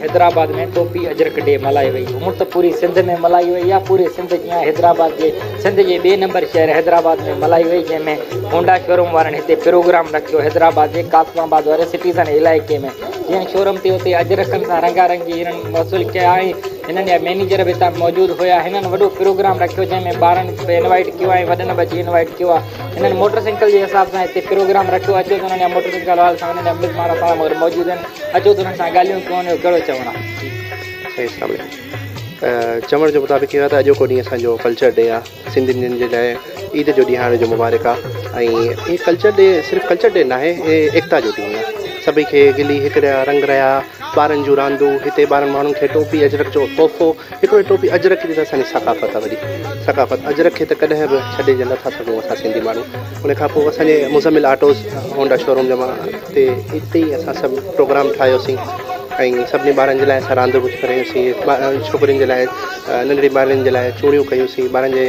Hyderabad ۾ Topi Ajrak day ملهائي وئي. هونء ته پوري سنڌ ۾ ملهائي وئي آهي. پوري سنڌ جيان حيدرآباد جي سنڌ جي ٻئي نمبر شهر حيدرآباد ۾ ملهائي وئي جنهن ۾ هونڊا شوروم وارن هتي پروگرام رکيو. حيدرآباد جي قاسم آباد واري سٽيزن علائقي ۾ جنهن شوروم تي اتي اجرڪن سان رنگا رنگي هيرن وصول ڪيا ۽ هنن جا مئنيجر به اتان موجود هيا. هنن وڏو پروگرام رکيو جنهن ۾ ٻارن به انوائيٽ ڪيو ۽ وڏن به اچي انوائيٽ ڪيو آهي. هنن موٽرسائيڪل جي حساب سان هتي پروگرام رکيو. اچو ته هنن جا موٽرسائيڪل وارن سان هنن جا مزمان اسان سان گڏ موجود آهن. اچو تون سان ڳالهيون ڪون جو ڪهڙو چوڻ آ. سائين اسلام عليڪم چوڻ جي مطابق اهو آ ته اڄوڪو ڏينهن اسان جو ڪلچر ڊي آ سنڌين جي لاء عيد جو ڏيهاڙي جو مبارڪ آ ۽ هي ڪلچر ڊي صرف ڪلچر ڊي ناهي هي ايڪتا جو ڏينهن آ سڀئي کي گلي هڪ ريا رنگ ريا ٻارن جون راندون هتي ٻارن ماڻهن کي ٽوپي اجرڪ جو تحفو هڪڙو هي ٽوپي اجرڪ جي ته اسان جي ثقافت آ وڏي ثقافت اجرڪ کي ته ڪڏهن به ڇڏي جي نٿا سگهون اسان سنڌي ماڻهو. ان کان پوء اسان جي مزمل آٽوز هونڊا شوروم جمع تي اتي ئي اسان سڀ پروگرام ٺاهيوسين ۽ سڀني ٻارن جي لاء اسان راند به ڪيوسين ڇوڪرين جي لاء ننڍڙي ٻارڙين جي لاء چوڙيون ڪيوسين ٻارن جي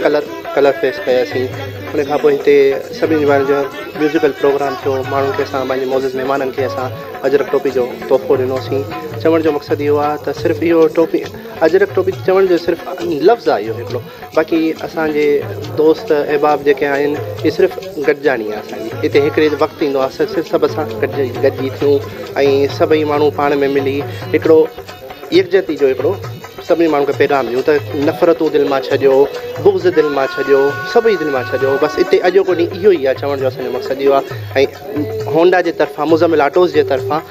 ڪلر ڪلر فيس ڪياسين ان کان پوء هتي سڀني ٻارن جو ميوزڪل پروگرام ٿيو ماڻهن کي اسان پنهنجي معزز مهمانن کي اسان اجرڪ ٽوپي جو تحفو ڏنوسين چوڻ جو مقصد اهو آهي ته صرف اهو ٽوپي اجرڪ ٽوپي چوڻ جو صرف لفظ آهي اهو هڪڙو باقي اسان جي دوست احباب جيڪي آهن اهي صرف گڏجاڻي آهي اسان جي هتي هڪڙي وقت ايندو آهي اسان صرف سڀ سان گڏجي ٿيون ۽ سڀئي ماڻهو پاڻ ۾ ملي هڪڙو يڪجهتي جو هڪڙو سڀني ماڻهن کي پيغام ڏيون ته نفرتون دل مان ڇڏيو بغض دل مان ڇڏيو سڀئي دل مان ڇڏيو بس هتي اڄوڪو ڏينهن اهو ئي آهي چوڻ جو اسان جو مقصد اهو آهي ۽ هونڊا جي طرفان مزمل آٽوز جي طرفان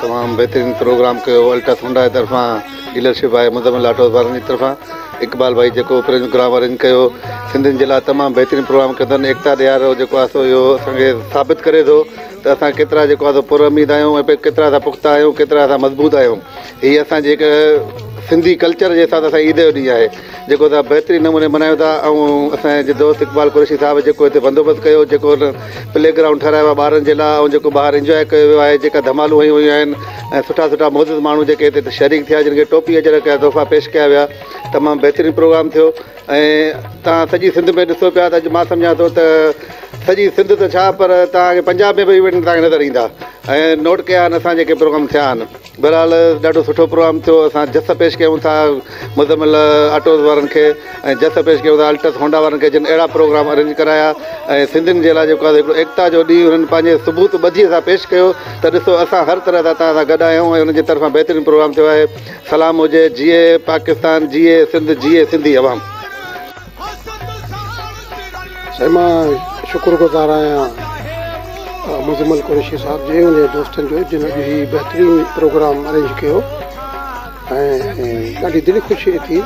تمام بهترين پروگرام ڪيو الٽا ٿونڊا جي طرفان ڊيلرشپ آهي مزمل آٽو وارن جي طرفان اقبال ڀائي جيڪو پروگرام ارينج ڪيو سنڌين جي لاء تمام بهترين پروگرام ڪيو اٿن ايڪتا ڏيارو جيڪو آهي سو اهو اسان کي ثابت ڪري ٿو ته اسان ڪيترا جيڪو آهي سو پر اميد آهيون ۽ ڪيترا اسان پختا آهيون ڪيترا اسان مضبوط آهيون هي اسان جيڪا سنڌي ڪلچر جي حساب سان اسان عيد جو ڏينهن آهي جيڪو اسان بهترين نموني ملهايون ٿا ۽ اسان جي دوست اقبال قريشي صاحب جيڪو هتي بندوبست ڪيو جيڪو هن پلي گرائونڊ ٺهرايو آهي ٻارن جي لاء ۽ جيڪو ٻاهر انجواء ڪيو ويو آهي جيڪا ڌمالون هيون ويون آهن ۽ سٺا سٺا معزز ماڻهو جيڪي هتي شريڪ ٿيا جن کي ٽوپي اجرڪ جا تحفا پيش ڪيا ويا تمام بهترين پروگرام ٿيو ۽ تان سڄي سنڌ ۾ ڏسو پيا ته اڄ مان سمجهان ٿو ته سڄي سنڌ ته ڇا پر تان کي پنجاب ۾ به ايونٽ تان کي نظر ايندا ۽ نوٽ ڪيا آهن اسان جيڪي پروگرام ٿيا آهن بھرحال ڏاڍو سٺو پروگرام ٿيو اسان جس پيش ڪيون ٿا مزمل آٽوز وارن کي ۽ جس پيش ڪيون ٿا الٽس هونڊا وارن کي جن اهڙا پروگرام ارينج ڪرايا ۽ سنڌين جي لاء جيڪو آهي هڪڙو ايڪتا جو ڏينهن هنن پنهنجي ثبوت ٻڌي سان پيش ڪيو ته ڏسو اسان هر طرح سان توهان سان گڏ آهيون ۽ انهن جي طرفان بهترين پروگرام ٿيو آهي سلام هجي جيئي پاڪستان جيئي سنڌ جيئي سنڌي عوام. سائين مان شڪر گذار آهيان مزمل قريشي صاحب جي ان جي دوستن جو جن اڄ هي بهترين پروگرام ارينج ڪيو ۽ ڏاڍي دلي خوشي ٿي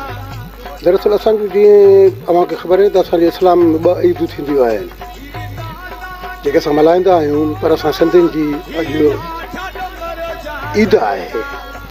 دراصل اسان جو جيئن اوهان کي خبر آهي ته اسان جي اسلام ۾ ٻه عيدون ٿينديون آهن جيڪي اسان ملهائيندا آهيون پر اسان سنڌين جي اڄ عيد آهي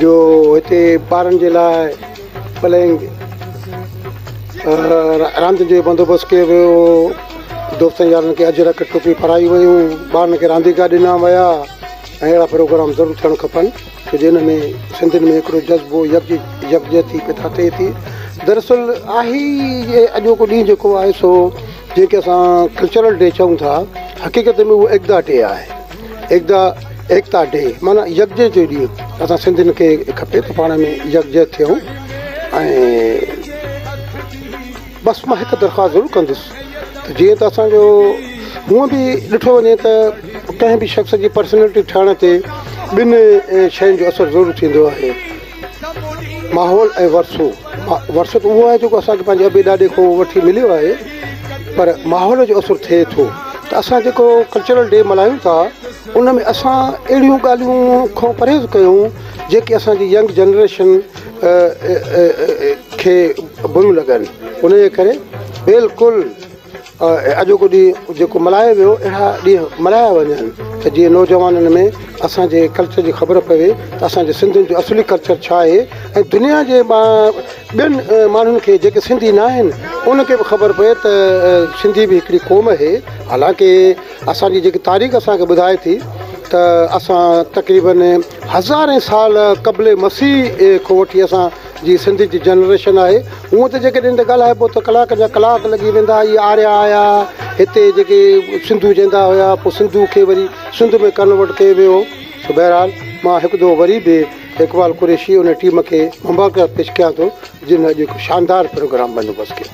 جو هتي ٻارن جي لاء پلينگ راندين جو بندوبست ڪيو ويو هو دوستن يارن کي اجرڪ ٽوپيون پارائيون ويون ٻارن کي رانديڪا ڏنا ويا ۽ اهڙا پروگرام ضرور ٿيڻ کپن ڇو جو ان ۾ سنڌين ۾ هڪڙو جذبو يڪ يڪجهتي پيدا ٿئي ٿي دراصل آهي ئي اڄوڪو ڏينهن جيڪو آهي سو جنهن کي اسان ڪلچرل ڊي چئون ٿا حقيقت ۾ اهو ايڪتا ڊي آهي ايڪدا ايڪتا ڊي معنيٰ يڪجهتي جو ڏينهن اسان سنڌين کي کپي ته پاڻ ۾ يڪجهت ٿيون ۽ بس مان هڪ درخواست ضرور ڪندس ته جيئن ته اسانجو هونء به ڏٺو وڃي ته ڪنهن به شخص جي پرسنالٽي ٺهڻ تي ٻن شين جو اثر ضرور ٿيندو آهي ماحول ۽ ورثو، ورثو ته اهو آهي جيڪو اسان کي پنهنجي ابي ڏاڏي کان وٺي مليو آهي پر ماحول جو اثر ٿئي ٿو ته اسان جيڪو ڪلچرل ڊي ملهايون ٿا ان ۾ اسان اهڙيون ڳالهيون کان پرهيز ڪيون جيڪي اسان جي ينگ جنريشن کي بريون لڳن ان جي ڪري بلڪل اڄوڪو ڏينهن جيڪو ملهايو ويو اهڙا ڏينهن ملهايا وڃن ته جيئن نوجوانن ۾ اسان جي ڪلچر جي خبر پوي ته اسان جي سنڌين جو اصلي ڪلچر ڇا آهي ۽ دنيا جي ٻين ماڻهن کي جيڪي سنڌي ناهن انهن کي به خبر پوي ته سنڌي به هڪڙي قوم اهي حالانڪ اسان جي جيڪي تاريخ اسان کي ٻڌائي ٿي ته اسان تقريبن هزارين سال قبل مسيح کان وٺي اسان جي سنڌ جي جنريشن آهي هونء ته جيڪڏهن هتي ڳالهائبو ته ڪلاڪن جا ڪلاڪ لڳي ويندا هي آريا آيا هتي جيڪي سنڌو جيندا هيا پوء سنڌو کي وري سنڌ ۾ ڪنورٽ ڪيو ويو سو بهرحال مان هڪ دفعو وري به اقبال قريشي ان ٽيم کي مبارڪباد پيش ڪيان ٿو جن اڄ هڪ شاندار پروگرام بندوبست ڪيو.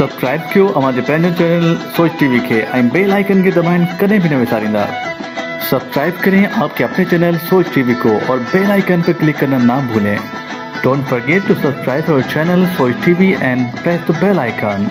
سبسڪرائب ڪيو اوهان جي پنهنجو چينل سوچ ٽي وي کي ۽ بيل آئيڪن کي دٻائڻ ڪڏهن به نه وساريندا سبسڪرائب ڪرين آپ ڪي اپني چينل سوچ ٽي وي ڪو اور بيل آئيڪن پي ڪلڪ ڪرنا نا ڀولين ڊونٽ فرگيٽ ٽو سبسڪرائب اور چينل سوچ ٽي وي اينڊ پريس ته بيل آئيڪن.